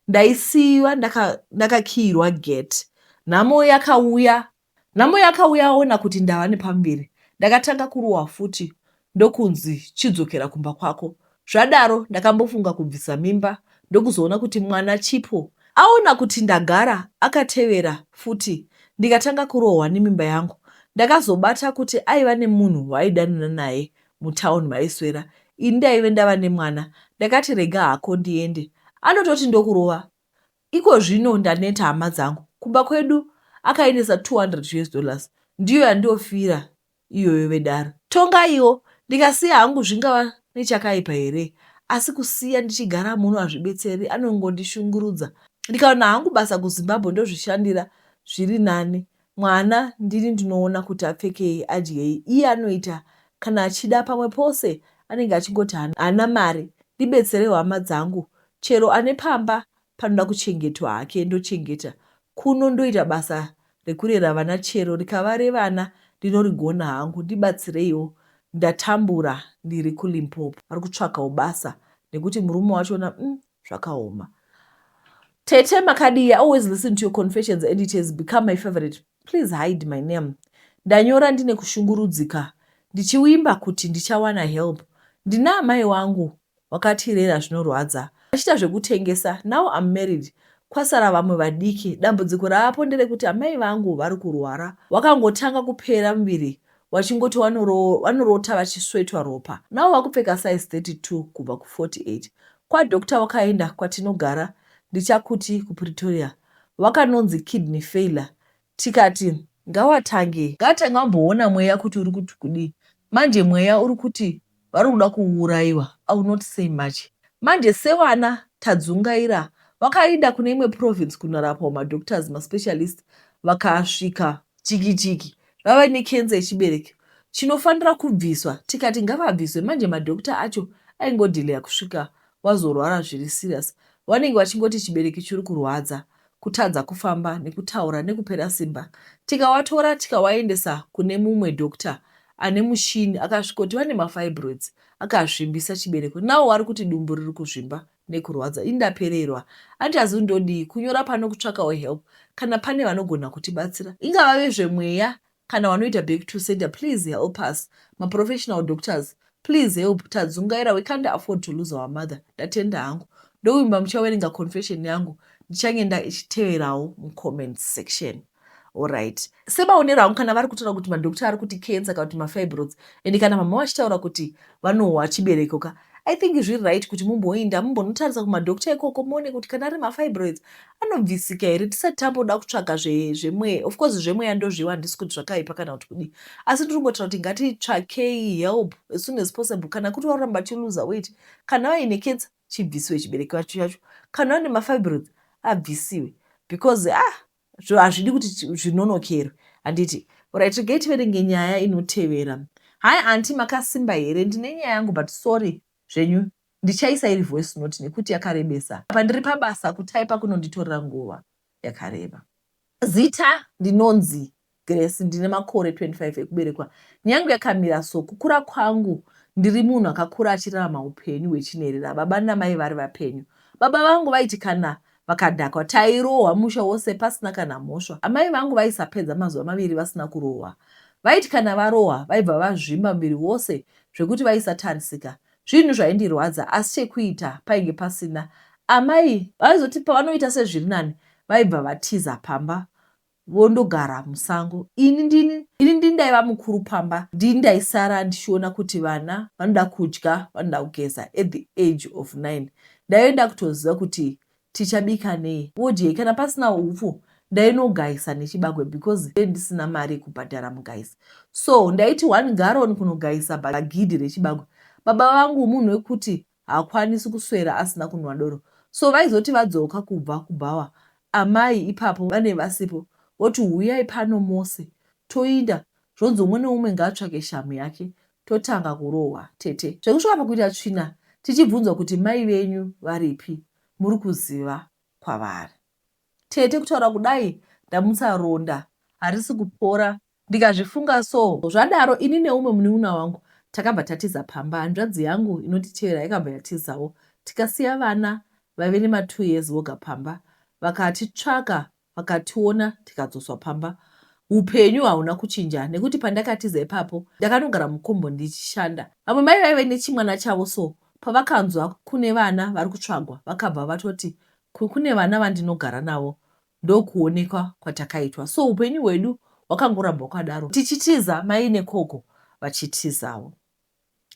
A: ndaisiiwa ndakakiyirwa ndaka gate nhamo yakauya nhamo yakauya aona kuti ndava nepamberi ndakatanga kurohwa futi ndokunzi chidzokera kumba kwako zvadaro ndakambofunga kubvisa mimba ndokuzoona kuti mwana chipo aona kuti ndagara akatevera futi ndikatanga kurohwa nemimba yangu ndakazobata kuti aiva nemunhu waaidanana naye mutown maiswera ini ndaive ndava nemwana ndakati rega hako ndiende anototi ndokurova ikozvino ndaneta hama dzangu kumba kwedu akaendesa 200 us dollars ndiyo yandofira iyoyo vedare tongaiwo ndikasiya hangu zvingava nechakaipa here asi kusiya ndichigara muno hazvibetseri anongondishungurudza ndikaona hangu basa kuzimbabwe ndozvishandira zviri nani Mwana ndini ndinoona kuti apfekei adyei iye anoita kana achida pamwe pose anenge achingoti haana mari ndibetserewo hama dzangu chero ane pamba panoda kuchengetwa hake ndochengeta kuno ndoita basa rekurera vana chero rikava revana ndinorigona hangu ndibatsireiwo ndatambura ndiri kuLimpopo ari kutsvakawo basa nekuti murume wacho umm zvakaoma tete makadii i always listen to your confessions and it has become my favorite please hide my name ndanyora ndine kushungurudzika ndichiwimba kuti ndichawana help ndina amai wangu wakatirera zvinorwadza achiita zvekutengesa now am married kwasara vamwe vadiki dambudziko raapo nderekuti amai vangu vari kurwara wakangotanga kupera muviri vachingoti vanorota vachiswetwa ropa navo vakupfeka size 32 kubva ku 48 kwadoctor wakaenda kwatinogara ndichakuti kupretoria wakanonzi kidney failure tikati ngawatange ngatange amboona mweya kuti uri kuti kudii manje mweya uri kuti varikuda kuuraiwa I will not say much manje sevana tadzungaira vakainda kune imwe province kunorapwa ma doctors ma specialist vakasvika chiki chiki vave ne cancer yechibereko chinofanira kubviswa tikati ngavabviswe manje ma doctor acho aingodelayer kusvika wazorwara zviri serious vanenge vachingoti chibereko chiri kurwadza kutadza kufamba nekutaura nekupera simba tikawatora tikawaendesa kune mumwe doctor ane mushini akasvikoti vane mafibroids akazvimbisa chibereko nawo wari kuti dumbu riri kuzvimba nekurwadza ini ndapererwa andichazivi ndodii kunyora pano kutsvakawo help kana pane vanogona kutibatsira ingava vezvemweya Kana wanoita back to sender please help us ma professional doctors please help tadzungaira we can't afford to lose our mother ndatenda hangu ndovimba muchawerenga confession yangu ndichange nda ichiteverawo mu comment section orit semaonero angu kana vari kutaura kuti madokta ari kuti cancer kana kuti mafibrods and kana mama vachitaura kuti vanohwa chibereko ka i think zviri right kuti mumboinda mumbonotarisa kumadokta ikoko muone kuti kana ari mafibroids anobvisika here tisati tamboda kutsvaga zvemweya of course zvemweya ndozvivo handisi kuti zvakaipa kana kuti kudii asi ndiri kungotaura kuti ngatitsvakei help as soon as possible kana kuti varamba vachiluza weit kana vaine ketsa chibvisiwe chibereki vacho chacho kana vane mafibrods abvisiwe because ah hazvidi kuti zvinonokerwe handiti orit regai tiverenge nyaya inotevera hai anti makasimba here ndine nyaya yangu but sorry zvenyu ndichaisa iri voice note nekuti yakarebesa apa ndiri pabasa kutyper kunonditorera nguva yakareba. Zita ndinonzi Grace ndine makore 25 ekuberekwa nyange yakamira so kukura kwangu ndiri munhu akakura achirarama upenyu hwechinherera baba namai vari vapenyu baba vangu vaiti kana Vakadhakwa tairohwa musha wose pasina kana mhosva. Amai vangu vaisapedza mazuva maviri vasina kurohwa. Vaiti kana varohwa vaibva vazvimba muviri wose zvekuti vaisatarisika. Zvinhu zvaindirwadza asi chekuita painge pasina. Amai vaizoti pavanoita sezviri nani vaibva vatiza pamba vondogara musango ini ndini ini ndini ndaiva mukuru pamba ndini ndaisara ndichiona kuti vana vanoda kudya vanoda kugeza at the age of nine ndaive ndakutoziva kuti tichabika nei vodyei kana pasina hupfu ndainogaisa nechibagwe because ndee ndisina mari yekubhadhara mugaisi so ndaiti one garon kunogaisa bhagidhi rechibagwe baba vangu munhu wekuti Haakwanisi kuswera asina kunwa doro so vaizoti vadzoka kubva kubhawa amai ipapo vanenge vasipo voti huyai pano mose toinda zvonzi umwe neumwe ngaatsvake shamhu yake totanga kurohwa tete zvekusvika pakuita tsvina tichibvunzwa kuti mai venyu varipi muri kuziva kwavari tete kutaura kudai ndamutsa ronda harisi kupora Ndikazvifunga so zvadaro ini neumwe muniuna wangu takabva tatiza pamba. Hanzvadzi yangu inonditevera yakabva yatizawo tikasiya vana vaive nema two years voga pamba. Vakatitsvaka vakationa tikadzoswa pamba. Hupenyu hauna kuchinja nekuti pandakatiza ipapo ndakanogara mukombo ndichishanda. Vamwe mai vaive nechimwana chavo so pavakanzwa kune vana vari kutsvagwa vakabva vatoti kune vana vandinogara navo ndokuonekwa kwatakaitwa so upenyu hwedu hwakangoramba hwakadaro tichitiza mai nekoko vachitizawo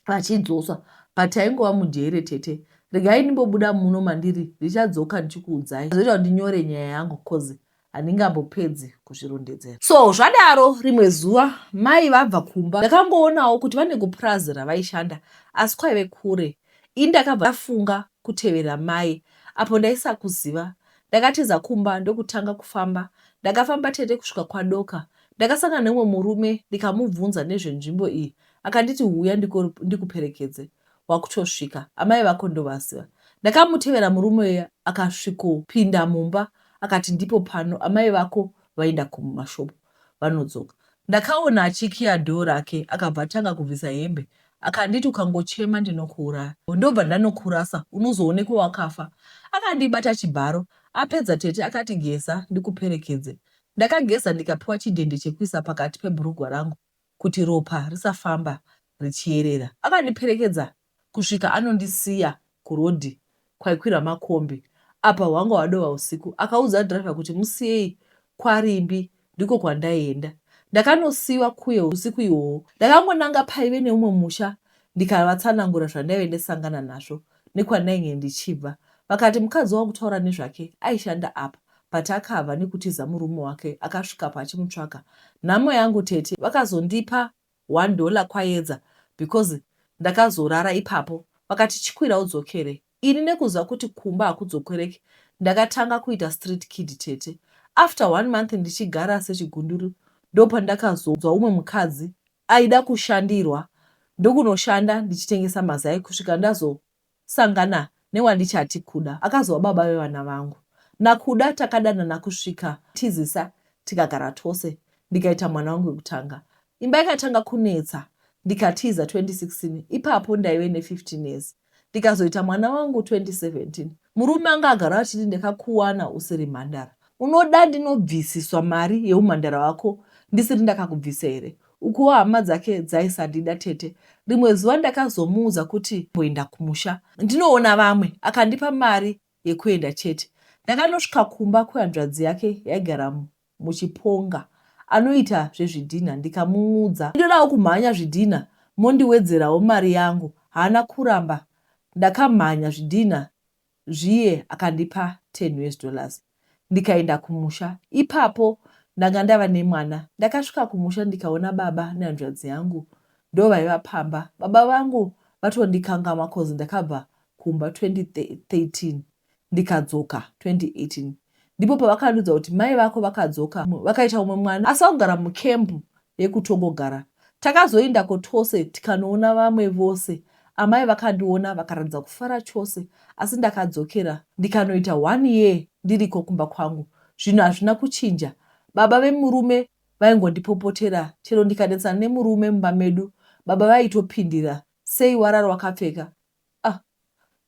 A: vachidzoswa but taingova mujere tete regai ndimbobuda muno mandiri ndichadzoka ndichikuudzai zvoita kuti ndinyore nyaya yangu coz handingambopedzi kuzvirondedzera so zvadaro rimwe zuva mai vabva kumba ndakangoonawo kuti vane kupurazi ravaishanda asi kwaive kure ini ndakabva ndafunga kutevera mai apo ndaisakuziva Ndakatiza kumba ndokutanga kufamba. Ndakafamba tete kusvika kwaDoka. Ndakasangana neumwe murume ndikamubvunza nezvenzvimbo iyi akanditi huya ndikuperekedze wakutosvika amai vako ndovaziva. Ndakamutevera murume uya akasvikopinda mumba akati ndipo pano amai vako vaenda kumashopu. vanodzoka. Ndakaona achikiya door rake akabva atanga kubvisa hembe akanditi ukangochema ndinokuuraya ndobva ndanokurasa unozoonekwa wakafa. Akandibata chibharo apedza tete akati geza ndikuperekedze. Ndakageza ndikapiwa chidhende chekuisa pakati pebhurugwa rangu kuti ropa risafamba richiyerera. Akandiperekedza kusvika anondisiya kuroad kwaikwira makombi apa hwanga hwadova husiku akaudza driver kuti musiyei kwaRimbi ndiko kwandaienda ndakanosiiwa kuye husiku ihwohwo ndakangonanga paive neumwe musha ndikavatsanangura zvandaive ndasangana nazvo nekwandainge ndichibva vakati mukadzi wangu taura nezvake aishanda apa but akabva nekutiza murume wake akasvikapo achimutsvaka nhamo yangu tete vakazondipa One dollar Kwayedza because ndakazorara ipapo vakati chikwira udzokere ini nekuziva kuti kumba hakudzokereki ndakatanga kuita street kid tete after one month ndichigara sechigunduru ndopandakazonzwa umwe mukadzi aida kushandirwa ndokunoshanda ndichitengesa mazai kusvika ndazo Sangana newandichati Kuda akazova baba vevana vangu. NaKuda takadanana kusvika tizisa tikagara tose ndikaita mwana wangu wekutanga. Imba yakatanga kunetsa ndikatiza 2016 ipapo ndaive ne 15 years ndikazoita mwana wangu 2017. Murume anga agara achiti ndakakuwana usiri mhandara unoda ndinobvisiswa mari yeumhandara wako ndisiri ndakakubvisa here Ukuwo hama dzake dzaisandida tete. Rimwe zuva ndakazomuudza kuti mboenda kumusha ndinoona vamwe akandipa mari yekuenda chete. Ndakanosvika kumba kwehanzvadzi yake yaigara muChiponga anoita zvezvidhinha ndikamuudza ndinodawo kumhanya zvidhinha mondiwedzerawo mari yangu. Haana kuramba ndakamhanya zvidhinha zviye akandipa ten us dollars ndikaenda kumusha ipapo ndanga ndava nemwana ndakasvika kumusha ndikaona baba nehanzvadzi yangu ndovaiva pamba baba vangu vatondikangamwa coz ndakabva kumba 2013 ndikadzoka 2018 ndipo pavakandiudza kuti mai vako vakadzoka vakaita umwe mwana asi vakugara mucamp yekutongogara. Takazoendako tose tikanoona vamwe vose. Amai vakandiona vakaratidza kufara chose asi ndakadzokera ndikanoita one year ndiriko kumba kwangu. Zvinhu hazvina kuchinja. Baba vemurume vaingondipopotera chero ndikanetsana nemurume mumba medu baba vaitopindira sei warara wakapfeka? Ah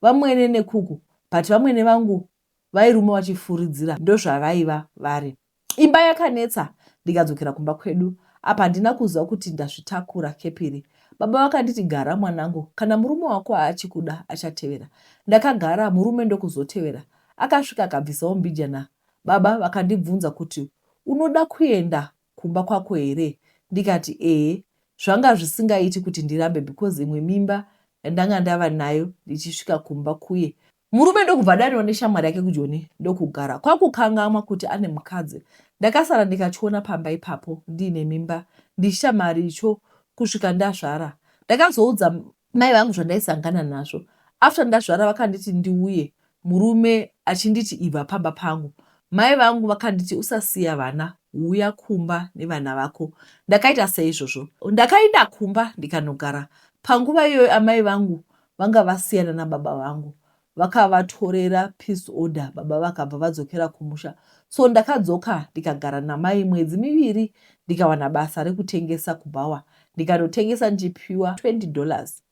A: vamwene nekuku but vamwene vangu Vairuma vachifuridzira ndozvavaiva vari. Imba yakanetsa ndikadzokera kumba kwedu apa handina kuziva kuti ndazvitakura kepiri. Baba vakanditi gara mwanangu kana murume wako achikuda achatevera. Ndakagara murume ndokuzotevera. Akasvika akabvisawo mbijana baba vakandibvunza kuti unoda kuenda kumba kwako here ndikati ehe zvanga zvisingaiti kuti ndirambe because imwe mimba yandanga ndava nayo ndichisvika kumba kuye murume ndokubva adaniwa neshamwari yake kujoni ndokugara kwakukangamwa kuti ane mukadzi ndakasara ndikachiona pamba ipapo ndiine mimba ndichita mari icho kusvika ndazvara ndakazoudza Mai vangu zvandaisangana nazvo after ndazvara vakanditi ndiuye murume achinditi ibva pamba pangu mai vangu vakanditi usasiya vana huya kumba nevana vako ndakaita seizvozvo ndakaenda kumba ndikanogara panguva iyoyo amai vangu vanga vasiyana nababa vangu Vakavatorera peace order baba vakabva vadzokera kumusha so ndakadzoka ndikagara namai mwedzi miviri ndikawana basa rekutengesa kubhawa ndikanotengesa ndichipiwa 20 dollars.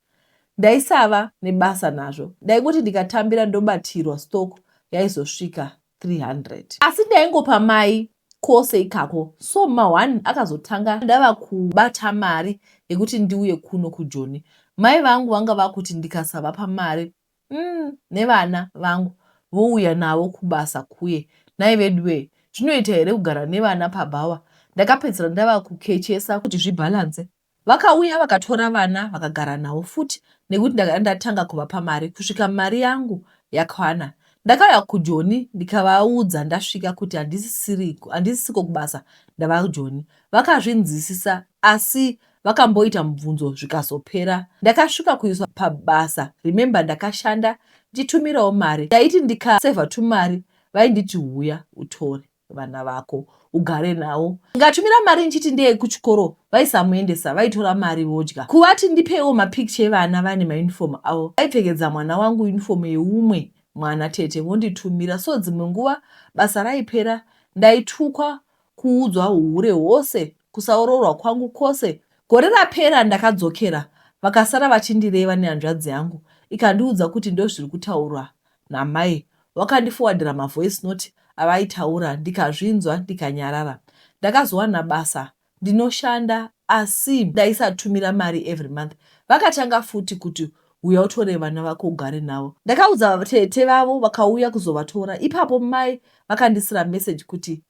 A: Ndaisava nebasa nazvo ndaingoti ndikatambira ndobatirwa stock yaizosvika 300. Asi ndaingopa mai kose ikako so ma one akazotanga ndava kubata mari yekuti ndiuye kuno kujoni. Mai vangu vanga vakuti ndikasavapa mari umm nevana vangu vouya navo kubasa kuye nhai veduwee zvinoita here kugara nevana pabhawa ndakapedzisira ndava kukechesa kuti zvibhalance vakauya vakatora vana vakagara navo futi nekuti ndakada ndatanga kuvapa mari kusvika mari yangu yakwana ndakauya kujoni ndikavaudza ndasvika kuti handisisiko kubasa ndava kujoni vakazvinzisisa asi vakamboita mubvunzo zvikazopera ndakasvika kuiswa pabasa remember ndakashanda ndichitumirawo mari ndaiti ndikasevha tumari vainditi huya utore vana vako ugare nawo ngatumira mari ndichiti ndeye kuchikoro vaisamuendesa vaitora mari vodya kuvati ndipeiwo mapicture evana vane mauniform avo vaipfekedza mwana wangu uniform yeumwe mwana tete vonditumira so dzimwe nguva basa raipera ndaitukwa kuudzwa uhure hwose Kusaoroorwa kwangu kwose gore rapera ndakadzokera vakasara vachindireva nehanzvadzi yangu ikandiudza kuti ndozviri kutaurwa namai wakandifowadhira mavoice note avaitaura ndikazvinzwa ndikanyarara. Ndakazowana basa ndinoshanda asi ndaisatumira mari every month vakatanga futi kuti huya utore vana vako ugare navo. Ndakaudza tete vavo vakauya kuzovatora ipapo mai vakandisira message kuti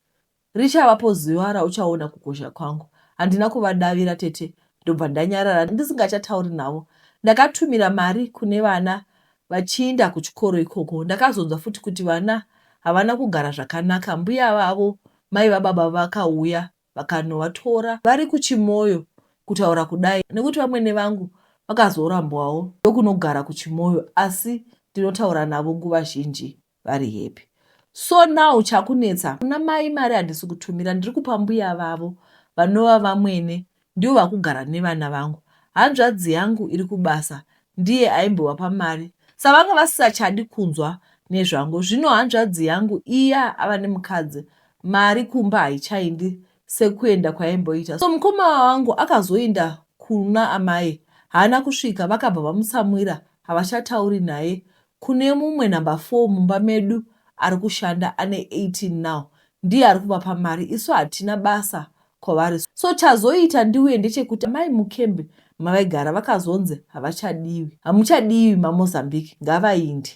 A: Richavapo zuva rauchaona kukosha kwangu. Handina kuvadavira tete ndobva ndanyarara ndisingachatauri navo. Ndakatumira mari kune vana vachiinda kuchikoro ikoko. Ndakazonzwa futi kuti vana havana kugara zvakanaka mbuya vavo mai vababa vakauya vakanovatora vari kuChimoyo kutaura kudai nekuti vamwene vangu vakazorambwawo ndokunogara kuChimoyo asi ndinotaura navo nguva zhinji. vari happy so now chakunetsa kuna mai mari handisi kutumira ndiri kupa mbuya vavo vanova vamwene ndivo vakugara nevana vangu hanzvadzi yangu iri kubasa ndiye aimbovapa mari savanga vasisachadi kunzwa nezvangu zvino hanzvadzi yangu iya ava nemukadzi mari kumba haichaindi sekuenda kwaimboita so mukoma wangu akazoinda kuna amai haana kusvika vakabva vamutsamwira havachatauri naye Kune mumwe number four mumba medu arikushanda ane 18 now ndiye arikuvapa mari isu hatina basa kwavari so chazoita ndiuye ndechekuti amai mucamp mavaigara vakazonzi havachadiwi hamuchadiwi mamozambique ngavainde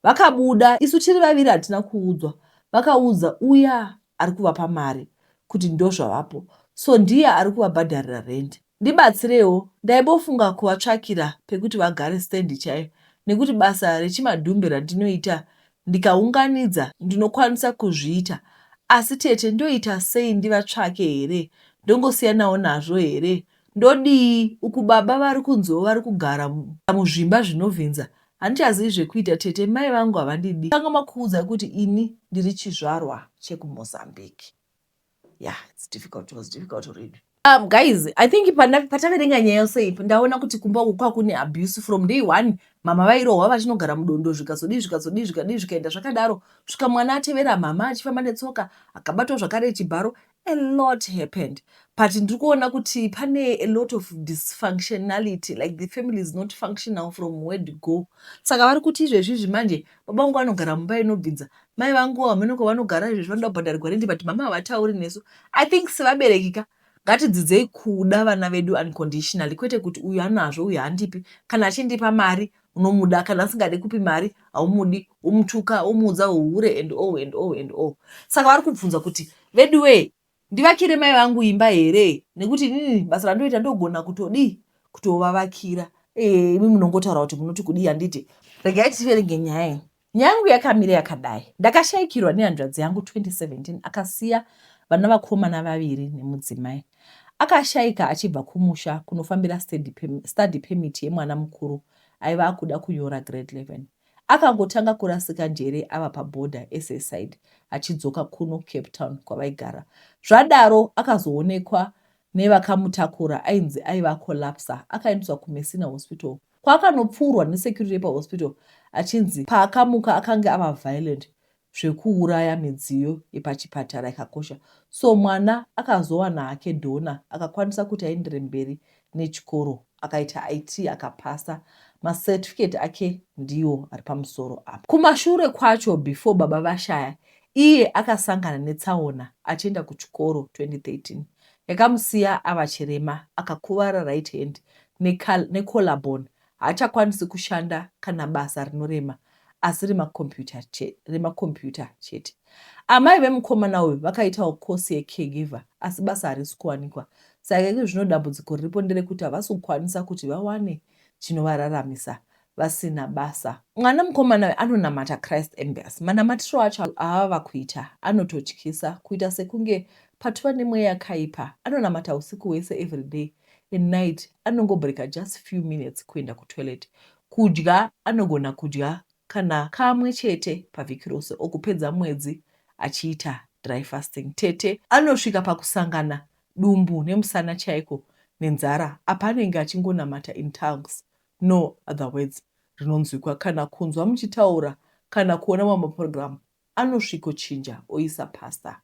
A: vakabuda isu tiri vaviri hatina kuudzwa vakaudza uya arikuvapa mari kuti ndozvavapo so ndiye arikuvabhadharira rendi Ndibatsirewo ndaibofunga kuvatsvakira pekuti vagare stand chaiyo nekuti basa rechimadhumbe randinoita ndikaunganidza ndinokwanisa kuzviita asi tete ndoita sei ndivatsvake here ndongosiyanawo nazvo here ndodii uku baba vari kunziwo vari kugara muzvimba zvinovhinza handichazivi zvekuita tete mai vangu havandidi kanganwa kuudza kuti ini ndiri chizvarwa chekuMozambique. yeah it's difficult it was difficult to read um guys i think pataverenga nyaya yose ipi ndaona kuti kumba uku kwakune abuse from day one mama vairohwa vachinogara mudondo zvikazodii zvikazodii zvikadii zvikaenda zvakadaro svika mwana atevera mama achifamba netsoka akabatwa zvakare chibharo a lot happened but ndiri kuona kuti pane a lot of dysfunctionality like the family is not functional from where to go saka vari kuti izvezvi izvi manje baba vangu vanogara mumba inobvinza mai vangu hameno kwavanogara izvezvi vanoda kubhadharirwa rendi but mama havatauri nesu i think sevabereki ka ngatidzidzei kuda vana vedu unconditionally kwete kuti uyu anazvo uyu handipi kana achindipa mari unomuda kana asingadi kupi mari haumudi umutuka umuudza uhure and all and all and all saka vari kubvunza kuti veduwee Ndivakire mai vangu imba here nekuti inini basa randoita ndogona kutodii kutovavakira eeh imi munongotaura kuti munoti kudii handiti. Regai tiverenge nyaya iyi. Nyaya yangu yakamira yakadai. Ndakashaikirwa nehanzvadzi yangu 2017 akasiya vana vakomana vaviri nemudzimai. Akashaika achibva kumusha kunofambira study permit yemwana mukuru aiva akuda kunyora grade 11. Akangotanga kurasika njere ava paborder eSA side achidzoka kuno Cape Town kwavaigara. Zvadaro akazoonekwa nevakamutakura ainzi aiva akolapsa akaendeswa kuMessina Hospital kwaakanopfuurwa nesecurity yepahospital achinzi paakamuka akange ava violent zvekuuraya midziyo yepachipatara yakakosha so mwana akazowana hake donor akakwanisa kuti aendere mberi nechikoro akaita IT akapasa ma certificate ake ndiwo ari pamusoro apa. Kumashure kwacho before baba vashaya iye akasangana netsaona achienda kuchikoro 2013 yakamusiya ava chirema akakuvara right hand ne collarbone Haachakwanisi kushanda kana basa rinorema asi remakombiyuta chete. Amai vemukomana uyu vakaitawo kosi yecaregiver asi basa harisi kuwanikwa. Saka iko zvino dambudziko riripo nderekuti havasi kukwanisa kuti vawane chinovararamisa vasina basa. Mwana mukomana uyu anonamata Christ Embassy. Manamatiro acho aava kuita anototyisa kuita sekunge patova nemweya yakaipa. Anonamata usiku hwese everyday at night anongobreaker just few minutes kuenda kutoilet. Kudya anogona kudya kana kamwe chete pavhiki rose or kupedza mwedzi achiita dry fasting. Tete anosvika pakusangana dumbu nemusana chaiko nenzara apa anenge achingonamata in tongues no other words rinonzwikwa kana kunzwa muchitaura kana kuona mamwe program anosviko chinja oisa Pastor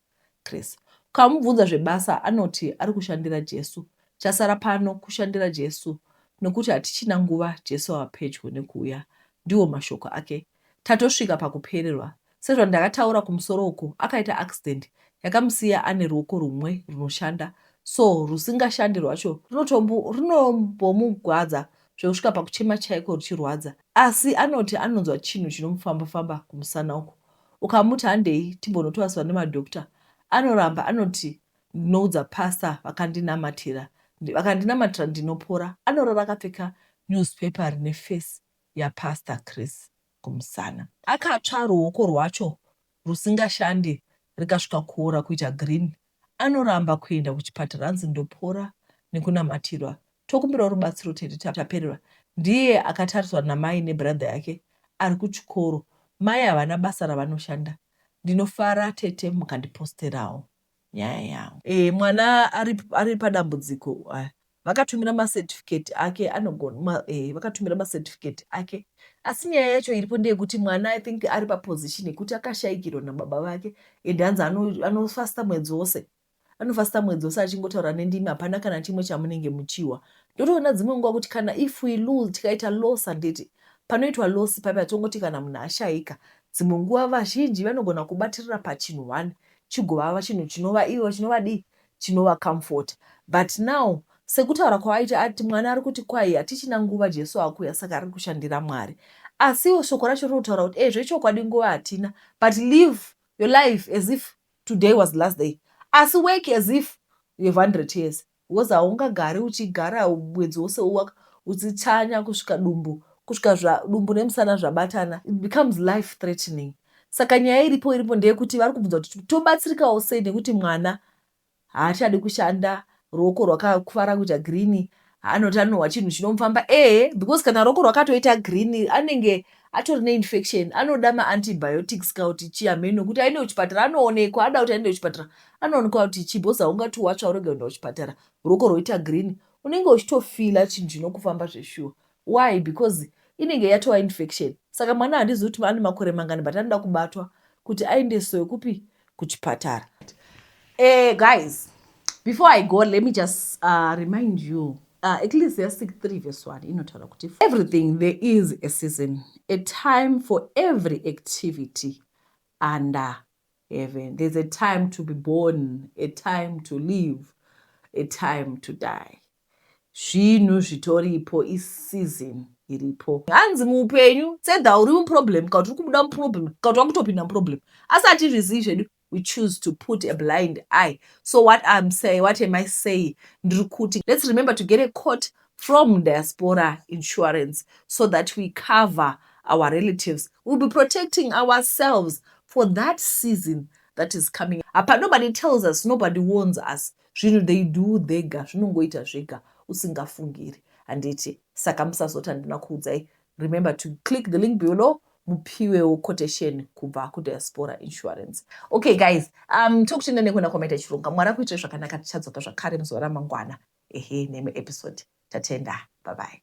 A: Chris. Ukamubvunza zvebasa anoti ari kushandira Jesu. Chasara pano kushandira Jesu nokuti hatichina nguva Jesu ava pedyo nekuuya. Ndiwo mashoko ake. Tatosvika pakupererwa. Sezvandakataura kumusoro uku akaita accident yakamusiya ane ruoko rumwe runoshanda so rusingashandi rwacho runotombomugwadza zvekusvika pakuchema chaiko ruchirwadza asi anoti anonzwa chinhu chinomufamba-famba kumusana uku. Ukamuti handei timbonotoaswa nemadoctor anoramba anoti ndinoudza pastor vakandinamatira vakandinamatira ndinopora. Anorara akapfeka newspaper rine face yaPastor Chris kumusana. Akatsva ruoko rwacho rusingashande rikasvika kuora kuita green anoramba kuenda kuchipatara anzi ndopora nekunamatirwa tokumbirawo rubatsiro tete tapererwa ndiye akatariswa namai nebrother yake ari kuchikoro mai havana basa ravanoshanda ndinofara tete mukandiposterawo nyaya yangu. Eh mwana ari, ari padambudziko ah, vakatumira macertificate ake anogona ma, eh, vakatumira macertificate ake asi nyaya yacho iripo ndeyekuti mwana i think ari paposition yekuti akashayikirwa nababa vake and hanzi anofasta ano mwedzi wose anofasta mwedzi wose achingotaura nendimi hapana kana chimwe chamunenge muchiwa ndotoona dzimwe nguva kuti kana if we lose tikaita loss handiti panoitwa loss papi atongoti kana munhu ashayika dzimwe nguva vazhinji vanogona kubatirira pachinhu one chigovava chinhu chinova ivo chinovadii chinova comforter but now sekutaura kwaaita ati mwana ari kuti kwahi hatichina nguva Jesu akuya saka ari kushandira Mwari asiwo shoko racho riri kutaura kuti ezvo ichokwadi nguva hatina but live your life as if today was the last day asi work as if you have 100 years Because haungagari uchigara mwedzi wose uwaka uchichanya kusvika dumbu kusvika zva dumbu nemusana zvabatana it becomes life threatening saka nyaya iripo iripo ndeyekuti vari kubvunza kuti tobatsirikawo sei nekuti mwana haachadi kushanda ruoko rwakakuvara kuita green anoti anohwa chinhu chinomufamba ehe because kana ruoko rwakatoita green anenge atori neinfection anoda maantibiotics ka kuti chii hameno kuti aende kuchipatara anoonekwa ada kuti aende kuchipatara Anoonekwa kuti chii because haungati watsva urege kuenda kuchipatara ruoko rwoita green unenge uchitofila chinhu chinokufamba zveshuwa why because inenge yatova infection saka mwana handizivi kuti ane makore mangani but anoda kubatwa kuti aendesoe kupi kuchipatara eh, guys before i go let me just uh, remind you uh, ecclesiastic 3 verse 1 inotaura kuti everything there is a season a time for every activity under Heaven there's a time to be born a time to live a time to die zvinhu zvitoripo iseason iripo hanzi muupenyu sedha uri muproblem kakuti uri kubuda muproblem kakuti wakutopinda muproblem asi hatizvizivi zvedu we choose to put a blind eye so what im say what am i saying ndiri kuti let's remember to get a court from Diaspora Insurance so that we cover our relatives we'll be protecting ourselves for that season that is coming apa nobody tells us nobody warns us zvinhu they do thega zvinongoita zvega usingafungiri handiti saka musazoti handina kuudzai Remember to click the link below mupiwewo quotation kubva kudiaspora insurance okay guys um tokutenda nekuona kwamaita chirunga mwari akuitire zvakanaka tichadzoka zvakare muzuva ramangwana ehe neimwe episode tatenda bye bye